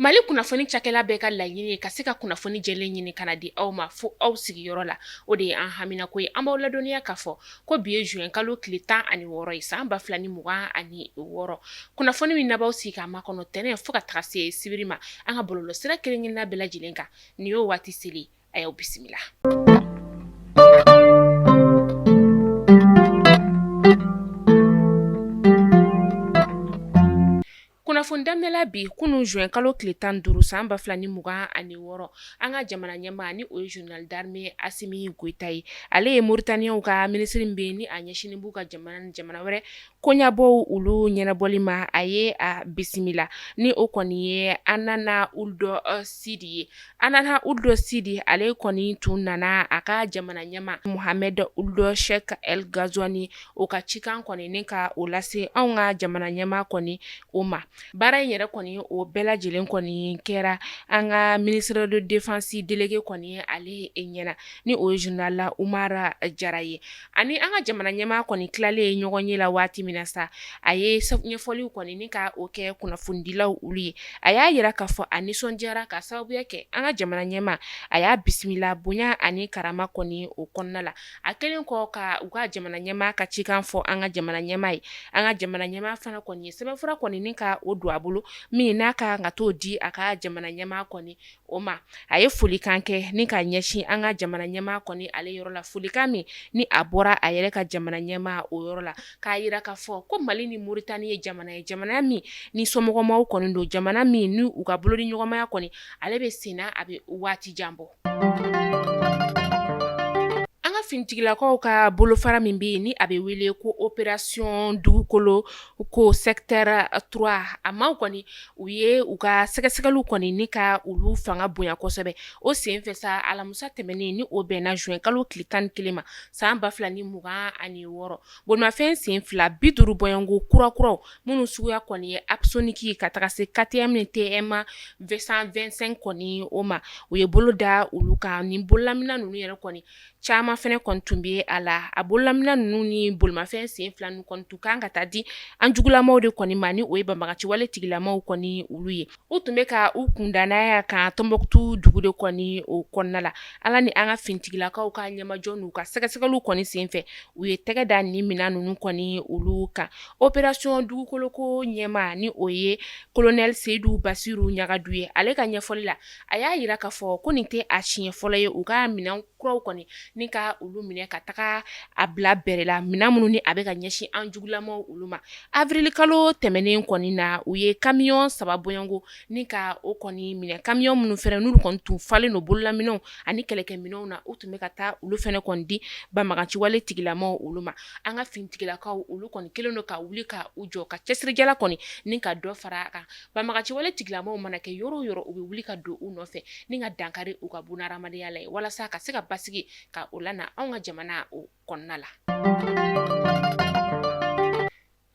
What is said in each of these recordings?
mali kunnafoni cakɛla bɛɛ ka laɲini ye ka se ka kunnafoni jɛlen ɲini ka n'a di aw ma fo aw sigiyɔrɔ la o de ye an haminako ye an b'aw ladɔnniya k'a fɔ ko bi ye juin kalo tile tan ani wɔɔrɔ ye san ba fila ni mugan ani wɔɔrɔ kunnafoni min n'a b'aw sigi k'a makɔnɔ tɛnɛn fo ka taga se sibiri ma an ka bɔlɔlɔ sira kelen kelenna bɛɛ lajɛlen kan nin y'o waati seli a y'aw bisimila kunnafoni daminɛla bi kunun juin kalo tile tan ni duuru san ba fila ni mugan ani wɔɔrɔ an ka jamana ɲɛmaa ni o ye général d'armée asimi goyita ye ale ye moritaniyaw ka minisiri min bɛ ni a ɲɛsinnen b'u ka jamana ni jamana wɛrɛ Koɲabɔw olu ɲɛnabɔli ma a ye a bisimila ni o kɔni ye hanana ould sidi ye hanana ould sidi ale kɔni tun nana a ka jamana ɲɛmaa mohamed ould cheikh el ghazouani o ka cikan kɔni ni ka o lase an ka jamana ɲɛmaa kɔni o ma baara in yɛrɛ kɔni o bɛɛ lajɛlen kɔni kɛra an ka ministre de défense délégué kɔni ale ɲɛna ni o ye général umar jara ye ani an ka jamana ɲɛmaa kɔni tilalen ye ɲɔgɔnye la waati min na sa a ye ɲɛfɔliw kɔni ni ka o kɛ kunnafonidilaw olu ye a y'a yira k'a fɔ a nisɔn diyara k'a sababuya kɛ an ka jamana ɲɛmaa a y'a bisimila bonya ani karama kɔni o kɔnɔna la a kɛlen kɔ ka u ka jamana ɲɛmaa ka cikan fɔ an ka jamana ɲɛmaa ye an ka jamana ɲɛmaa fana kɔni ye sɛbɛnfura kɔni ni ka o don a bolo min n'a ka kan ka taa o di a ka jamana ɲɛmaa kɔni o ma a ye folikan kɛ ni ka ɲɛsin an ka jamana ɲɛmaa kɔni ale yɔrɔ la folikan min ni a bɔra a yɛrɛ ka jamana ɲɛmaa o yɔrɔ la k'a yira k'a fɔ ko mali ni moritani ye jamana ye jamana min ni somɔgɔmaw kɔni don jamana min ni u ka bolodiɲɔgɔnmaya kɔni ale bɛ senna bɛ waati jan bɔ an ka finitigilakaw ka bolofara min bɛ yen ni a bɛ wele ko opération dugukoloko secteur trois a maaw kɔni u ye u ka sɛgɛsɛgɛliw kɔni ni ka olu fanga bonya kosɛbɛ o senfɛ sa alamisa tɛmɛnen ni o bɛnna juin kalo tile tan ni kelen ma san ba fila ni mugan ani wɔɔrɔ bolimafɛn sen fila bi duuru bɔɲɔgɔnko kurakuraw minnu suguya kɔni ye apsonic ye ka taga se ktm ni tm deux cent vingt-cinq kɔni o ma u ye bolo da olu kan ni bololamina ninnu yɛrɛ kɔni caman fɛnɛ kɔni tun bɛ a la a bololamina ninnu ni bolimafɛn sen fila ninnu kɔni tun kan ka taa di an jugulamaw de kɔni ma ni o ye banbaganciwale tigilamaw kɔni olu ye u tun bɛ ka u kunda n'a kan tombouctou dugu de kɔni o kɔnɔna la ala ni an ka finitigilakaw ka ɲɛmajɔ n'u ka sɛgɛsɛgɛliw kɔni senfɛ u ye tɛgɛ da ni minɛn ninnu kɔni olu kan opération dugukoloko ɲɛmaa ni o ye kolonɛli seyidu basiru ɲagadu ye ale ka ɲɛfɔli la A y'a jira k'a fɔ ko nin tɛ a siɲɛ fɔlɔ ye u ka minɛn kuraw kɔni ni ka olu minɛ ka taga a bila bɛrɛ la minɛn minnu ni a bɛ ka ɲɛsin an jugulamaw olu ma awirili kalo tɛmɛnen kɔni na u ye kamiyɔn saba bɔɲɔgɔnko ni ka o kɔni minɛ kamiyɔn minnu fana n'u kɔni tun falen don bololaminɛnw ani kɛlɛkɛminɛnw na u tun bɛ ka taa olu fana kɔni di banbaganciwale tigilamaw olu ma an ka finitigilakaw olu kɔni kɛlen don ka wuli ka u jɔ ka cɛsirijala kɔni ni ka dɔ fara a kan banbaganciwale tigilamaw mana kɛ yɔrɔ o yɔrɔ u bɛ wuli ka don u nɔfɛ ni ka dankari u ka bunahadamadenya la ye walasa ka se ka basigi ka o lana anw ka jamana o kɔnɔna la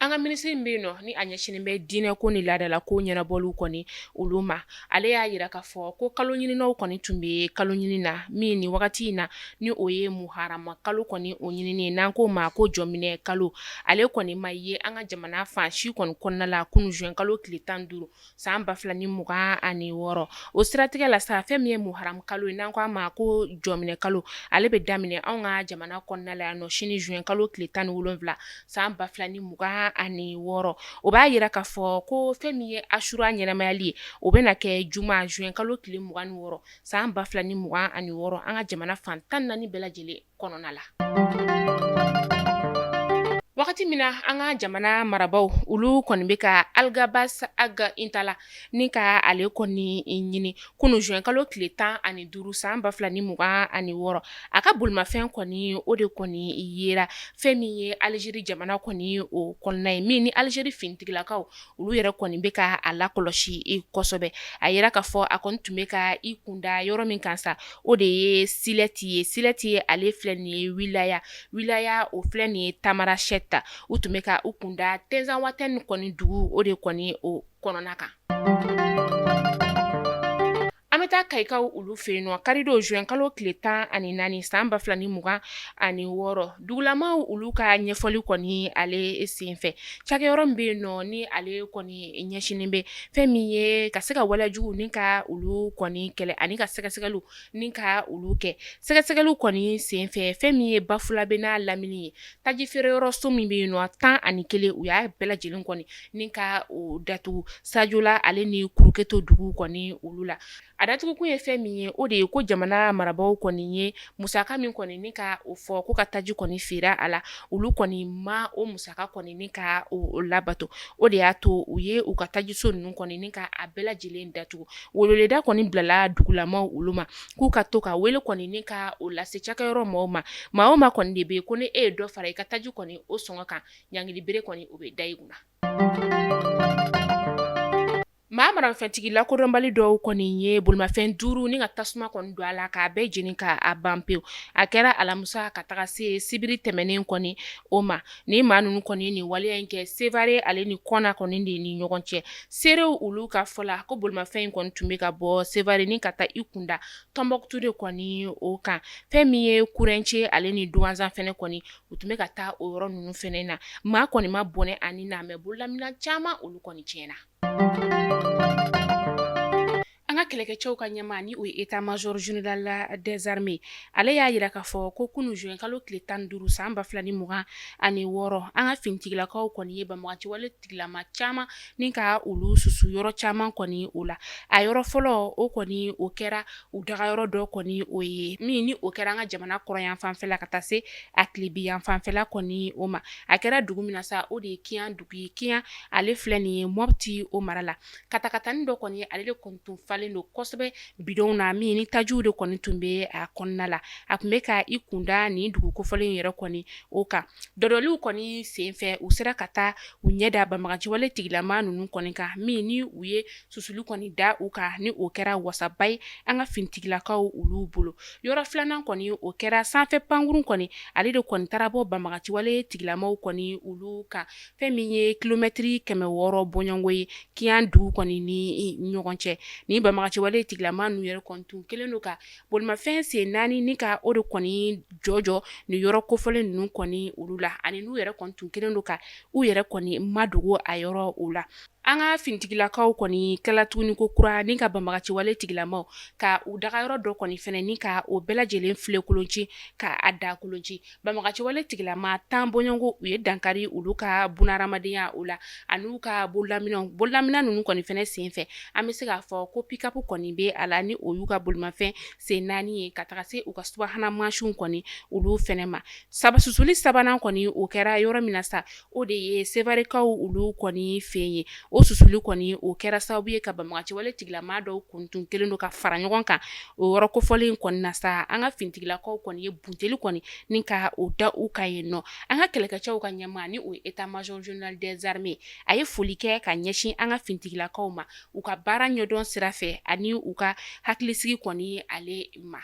an ka minisiri min bɛ yen nɔ ni a ɲɛsinnen bɛ diinɛ ko ni laadala ko ɲɛnabɔliw kɔni olu ma ale y'a jira k'a fɔ ko kalo ɲininaw kɔni tun bɛ kalo ɲini na min nin wagati in na ni o ye muharamu kalo kɔni o ɲinini n'an k'o ma ko jɔminɛ kalo ale kɔni ma ye an ka jamana fan si kɔni kɔnɔna la kunun zuwɛn kalo tile tan ni duuru san ba fila ni mugan ani wɔɔrɔ o siratigɛ la sa fɛn min ye muharamu kalo ye n'an ko a ma ko jɔminɛ kalo ale bɛ daminɛ an ka jamana kɔnɔna la yan nɔ sini zuwɛn kalo tile tan ni wolonwula san ba fila ni mugan ani wɔɔrɔ o b'a jira k'a fɔ ko fɛn min ye asura ɲɛnamayali ye o bɛna kɛ juma zuwɛn kalo tile mugan ni wɔɔrɔ san ba fila ni mugan ani wɔɔrɔ an ka jamana fan tan naani bɛɛ lajɛlen kɔnɔna la wagati min na an ka jamana marabagaw olu kɔni bɛ ka Algabas Ag Intala ni ka ale kɔni ɲini kunun zuwɛn kalo tile tan ani duuru san ba fila ni mugan ani wɔɔrɔ a ka bolimafɛn kɔni o de kɔni yera fɛn min ye alizeri jamana kɔni o kɔnɔna ye min ni alizeri finitigilakaw olu yɛrɛ kɔni bɛ ka a lakɔlɔsi kosɛbɛ a jira k'a fɔ a kɔni tun bɛ ka i kunda yɔrɔ min kan sa o de ye silɛti ye silɛti ye ale filɛ nin ye wilaya wilaya o filɛ nin ye Tamanrasɛti u tun bɛ ka u kunda Tinzawatɛni kɔni dugu o de kɔni o kɔnɔna kan An bɛ taa Kayikaw olu fɛ yen nɔ karidon zuwɛn kalo tile tan ani naani san ba fila ni mugan ani wɔɔrɔ dugulamaw olu ka ɲɛfɔli kɔni ale senfɛ cakɛyɔrɔ min bɛ yen nɔ ni ale kɔni ɲɛsinnen bɛ fɛn min ye ka se ka walejugu ni ka olu kɔni kɛlɛ ani ka sɛgɛsɛgɛliw ni ka olu kɛ sɛgɛsɛgɛliw kɔni senfɛ fɛn min ye Bafulabɛ n'a lamini ye taji feere yɔrɔ so min bɛ yen nɔ tan ani kelen u y'a bɛɛ lajɛlen kɔni ni ka o datugu Sajola ale ni kuruketo dugu kɔni olu la a datugukun ye fɛn min ye o de ye ko jamana marabagaw kɔni ye musaka min kɔni ni ka o fɔ ko ka taji kɔni feere a la olu kɔni ma o musaka kɔni ni ka o labato o de y'a to u ye u ka tajiso ninnu kɔni ni ka a bɛɛ lajɛlen datugu weleweleda kɔni bilala dugulamaw olu ma k'u ka to ka wele kɔni ni ka o lase cakɛyɔrɔ maaw ma maa o maa kɔni de be ye ko ni e ye dɔ fara i ka taji kɔni o sɔngɔ kan ɲangilibere kɔni o be da i kunna maa maramafɛntigi lakodɔnbali dɔw kɔni ye bolimafɛn duuru ni ka tasuma kɔni don a la k'a bɛɛ jeni ka a ban pewu a kɛra alamisa ka taga se sibiri tɛmɛnen kɔni o ma ni maa ninnu kɔni nin waleya in kɛ sevare ale ni kɔna kɔni de ni ɲɔgɔn cɛ seerew olu ka fɔ la ko bolimafɛn in kɔni tun bɛ ka bɔ sevare ni ka taa i kunda tɔnbɔkutu de kɔni o kan fɛn min ye kurence ale ni duwanzan fɛnɛ kɔni u tun bɛ ka taa o yɔrɔ ninnu fɛnɛ na maa kɔni ma bɔnɛ a ni na mɛ bololamina caman olu kɔni tiɲɛna An ka kɛlɛkɛcɛw ka ɲɛmaa ni o ye état-major général des armées ale y'a yira k'a fɔ ko kunun zuwɛn kalo tile tan ni duuru san ba fila ni mugan ani wɔɔrɔ an ka finitigilakaw kɔni ye banbaganciwale tigilama caman ni ka olu susu yɔrɔ caman kɔni o la a yɔrɔ fɔlɔ o kɔni o kɛra u dagayɔrɔ dɔ kɔni o ye min ni o kɛra an ka jamana kɔrɔnyanfan fɛla ka taa se a tilebinyanfan fɛla kɔni o ma a kɛra dugu min na sa o de ye kiyan dugu Ye kiyan ale filɛ nin ye mopti o mara la katakatanin dɔ kɔni ale de kɔni tun falen don kosɛbɛ bidɔnw na min ni tajiw de kɔni tun bɛ a kɔnɔna la a tun bɛ ka i kunda nin dugu kofɔlen yɛrɛ kɔni o kan dɔdɔliw kɔni senfɛ u sera ka taa u ɲɛ da banbaganciwale tigilama ninnu kɔni kan min ni u ye susuli kɔni da u kan ni o kɛra wasaba ye an ka finitigilakaw olu bolo yɔrɔ filanan kɔni o kɛra sanfɛ pankurun kɔni ale de kɔni taara bɔ banbaganciwale tigilamaw kɔni olu kan fɛn min ye kilomɛtiri kɛmɛ wɔɔrɔ bɔɲɔgɔnko ye kiyan dugu kɔni ni ɲɔgɔn cɛ ni banbaganciwale tigilama ninnu yɛrɛ kɔni tun kelen don ka bolimafɛn sen naani ni ka o de kɔni jɔjɔ ni yɔrɔ kofɔlen ninnu kɔni olu la ani n'u yɛrɛ kɔni tun kelen don ka u yɛrɛ kɔni madogo a yɔrɔ o la An ka finitigilakaw kɔni kɛla tuguni ko kura ni ka banbaganciwale tigilamaw ka u dagayɔrɔ dɔ kɔni fɛnɛ ni ka o bɛɛ lajɛlen filenkolonci ka a dakolonci banbaganciwale tigilama tan bɔɲɔgɔnko u ye dankari olu ka bunahadamadenya o la ani n'u ka bololamina bololamina ninnu kɔni fɛnɛ sen fɛ an bɛ se k'a fɔ ko pick-up kɔni bɛ a la ni o y'u ka bolimafɛn sen naani ye ka taga se u ka subahana mansinw kɔni olu fɛnɛ ma sa susuli sabanan kɔni o kɛra yɔrɔ min na sa O de ye sevarekaw olu kɔni fɛ ye o susuli kɔni o kɛra sababu ye ka banbaganciwale tigilama dɔw kɔni tun kelen don ka fara ɲɔgɔn kan o yɔrɔ kofɔlen in kɔni na sa an ka finitigilakaw kɔni ye bunteli kɔni ni ka o da u ka yen nɔ an ka kɛlɛkɛcɛw ka ɲɛmaa ni o ye état-major général des armées a ye foli kɛ ka ɲɛsin an ka finitigilakaw ma u ka baara ɲɛdɔn sira fɛ ani u ka hakilisigi kɔni ale ma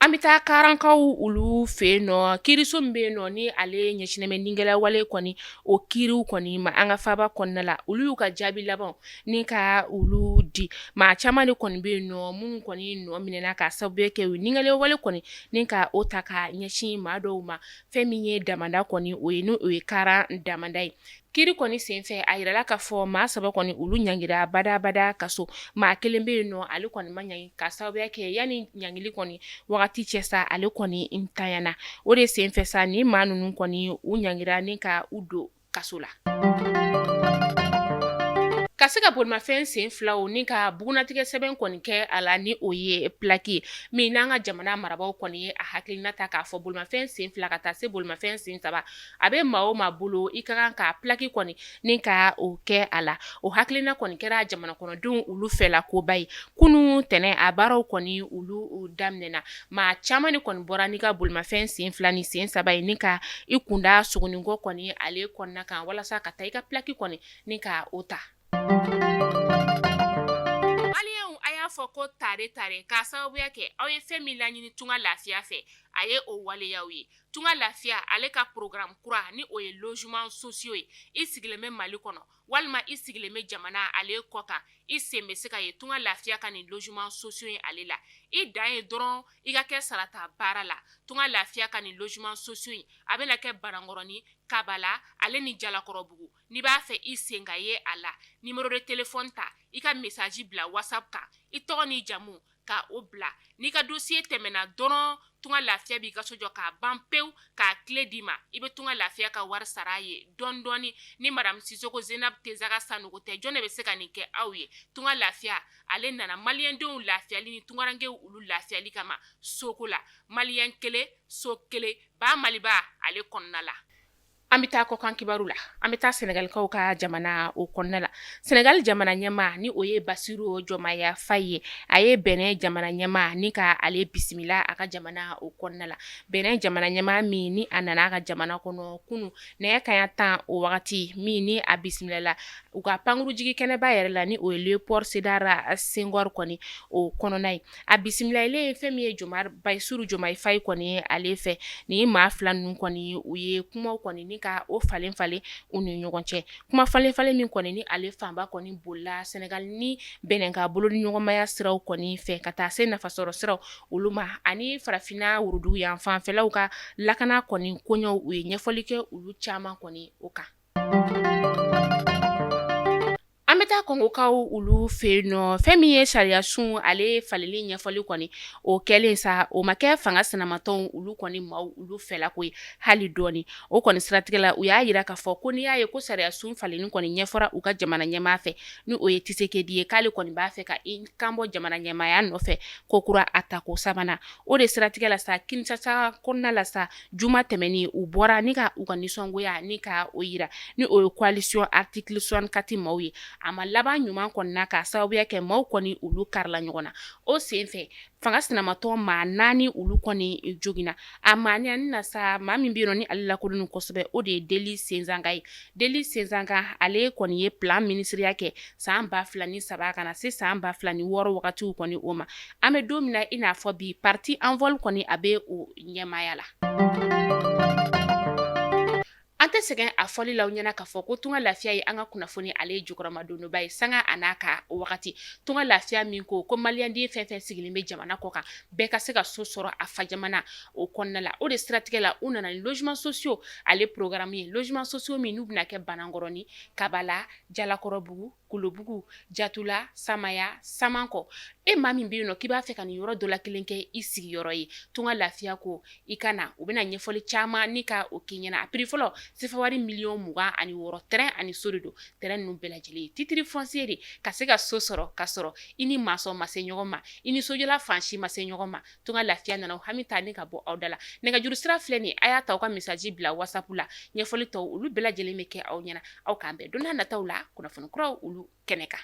An bɛ taa karankaw olu fɛ yen nɔ kiriso min bɛ yen nɔ ni ale ɲɛsinnen bɛ nigɛlɛwale kɔni o kiriw kɔni ma an ka faba kɔnɔna la olu y'u ka jaabi laban ni ka olu di maa caman de kɔni bɛ yen nɔ minnu kɔni nɔ minɛna ka sababu kɛ u nigɛlɛwale kɔni ni ka o ta ka ɲɛsin maa dɔw ma fɛn min ye damanda kɔni o ye n' o ye karan damanda ye Kiri kɔni senfɛ a yirala k'a fɔ maa saba kɔni olu ɲangira badabada kaso maa kelen bɛ yen nɔ ale kɔni ma ɲangi ka sababuya kɛ yanni ɲangili kɔni wagati cɛ sa ale kɔni ntanyana o de senfɛ sa ni maa ninnu kɔni u ɲangira ni ka u don kaso la ka se ka bolimafɛn sen filaw ni ka bugunnatigɛ sɛbɛn kɔni kɛ a la ni o ye pilaki min n'an ka jamana marabaw kɔni ye a hakilina ta k'a fɔ bolimafɛn sen fila ka taa se bolimafɛn sen saba a bɛ maa o maa bolo i ka kan ka pilaki kɔni ni ka o kɛ a la o hakilina kɔni kɛra jamana kɔnɔdenw olu fɛ la koba ye kunun tɛnɛn a baaraw kɔni olu daminɛna maa caman de kɔni bɔra n'i ka bolimafɛn sen fila ni sen saba ye ni ka i kunda sogoninkɔ kɔni ale kɔnɔna kan walasa ka taa i ka pilaki kɔni ni ka o ta maliyɛnw a y'a fɔ ko tare tare k'a sababuya kɛ aw ye fɛn min laɲini tunga lafiya fɛ a ye o waleya aw ye tunga lafiya ale ka programu kura ni o ye logement sociaux ye i sigilen bɛ mali kɔnɔ walima i sigilen bɛ jamana ale kɔ kan i sen bɛ se ka ye tunga lafiya ka nin logement sociaux ye ale la i dan ye dɔrɔn i ka kɛ sarata baara la tunga lafiya ka nin logement sociaux ye a bɛna kɛ banankɔrɔnin kabala ale ni jalakɔrɔbugu n'i b'a fɛ i sen ka ye a la numéro de téléphone ta i ka mesaji bila WhatsApp kan i tɔgɔ ni jamu ka o bila n'i ka dosiye tɛmɛna dɔrɔn tunga lafiya b'i ka so jɔ k'a ban pewu k'a kile d'i ma i bɛ tunga lafiya ka wari sara a ye dɔndɔɔni ni madamu sisoko zeinabu tesaga sanogo tɛ jɔn de bɛ se ka nin kɛ aw ye tunga lafiya ale nana maliyɛndenw lafiyali ni tungarankew olu lafiyali kama soko la maliyɛn kelen so kelen ba maliba ale kɔnɔna la An bɛ taa kɔkan kibaru la an bɛ taa sɛnɛgalikaw ka jamana o kɔnɔna la sɛnɛgali jamana ɲɛma ni o ye basiru jɔmayi fayi ye a ye bɛnɛ jamana ɲɛma ni ka ale bisimila a ka jamana o kɔnɔna la bɛnɛ jamana ɲɛma min ni a nana a ka jamana kɔnɔ kunun nɛgɛ kanɲɛ tan o wagati min ni a bisimilala u ka pankurunjigi kɛnɛba yɛrɛ la ni o ye lewopɔli sedari sɛngɔri kɔni o kɔnɔna ye a bisimilalen fɛn min ye jɔma basiru jɔmayi fayi kɔni ye ale fɛ ni maa fila ninnu kɔni u ye kumaw kɔni ni ka o falen falen u ni ɲɔgɔn cɛ kuma falen falen min kɔni ni ale fanba kɔni bolila sɛnɛgali ni bɛnɛ ka bolo ni ɲɔgɔnmaya siraw kɔni fɛ ka taa se nafasɔrɔ siraw olu ma ani farafinna worodugu yan fanfɛlaw ka lakana kɔni koɲɛw u ye ɲɛfɔli kɛ olu caman kɔni o kan An bɛ taa Kongokaw olu fɛ yen nɔ fɛn min ye sariya sun ale falenli ɲɛfɔli kɔni o kɛlen sa o ma kɛ fanga sinamatɔnw olu kɔni maaw olu fɛla ko ye hali dɔɔnin o kɔni siratigɛ la u y'a jira k'a fɔ ko n'i y'a ye ko sariya sun falenli kɔni ɲɛfɔra u ka jamana ɲɛmaa fɛ ni o ye Tshisekedi ye k'ale kɔni b'a fɛ ka i kanbɔ jamana ɲɛmaaya nɔfɛ kokura a tako sabanan o de siratigɛ la sa Kinshasa kɔnɔna la sa juma tɛmɛnen u bɔra ni ka u ka nisɔngoya ni ka o jira ni o ye coalition article 64 maaw ye, a ma laban ɲuman kɔnɔna k'a sababuya kɛ maaw kɔni olu karila ɲɔgɔn na, o senfɛ fanga sinamatɔn maa naani olu kɔni joginna, a maa naani na sa, maa min bɛ yen nɔ ni ale lakodɔnnen don kosɛbɛ, o de ye Delly Sesanga ye, Delly Sesanga ale kɔni ye plan minisiriya kɛ san 2003 ka na se san 2006 wagati kɔni o ma, an bɛ don min na i n'a fɔ bi parti Envol kɔni a bɛ o ɲɛmaaya la an tɛ sɛgɛn a fɔli la ɲɛna k'a fɔ ko tunga lafiya ye an ka kunnafoni ale ye jukɔrɔmadonbaa ye sanga a n'a ka wagati tunga lafiya min ko ko maliyɛnden fɛn fɛn sigilen bɛ jamana kɔ kan bɛɛ ka se ka so sɔrɔ a fa jamana o kɔnɔna la o de siratigɛ la u nana ni logements sociaux ale programme ye logements sociaux min n'u bɛna kɛ banankɔrɔnin kabala jalakɔrɔbugu kolobugu jatula samaya samankɔ e maa min bɛ yen nɔ k'i b'a fɛ ka nin yɔrɔ dɔ la kelen kɛ i sigiyɔrɔ ye tunga lafiya ko i ka na u bɛna ɲɛfɔli caman ni ka o k'i ɲɛna a piri fɔlɔ sefawari miliyɔn mugan ani wɔɔrɔ tɛrɛn ani so de don tɛrɛn ninnu bɛɛ lajɛlen ye titiri fɔnsiye de ka se ka so sɔrɔ ka sɔrɔ i ni masɔn ma se ɲɔgɔn ma i ni sojɔla fan si ma se ɲɔgɔn ma tunga lafiya nana o hami ta ni ka bɔ aw da la nɛgɛjuru sira filɛ nin a y'a ta aw ka message bila WhatsApp la ɲɛfɔli tɔ olu bɛɛ lajɛlen bɛ kɛ aw ɲɛna aw k'an bɛn don nataw la kunnafoni kuraw olu kɛnɛ kan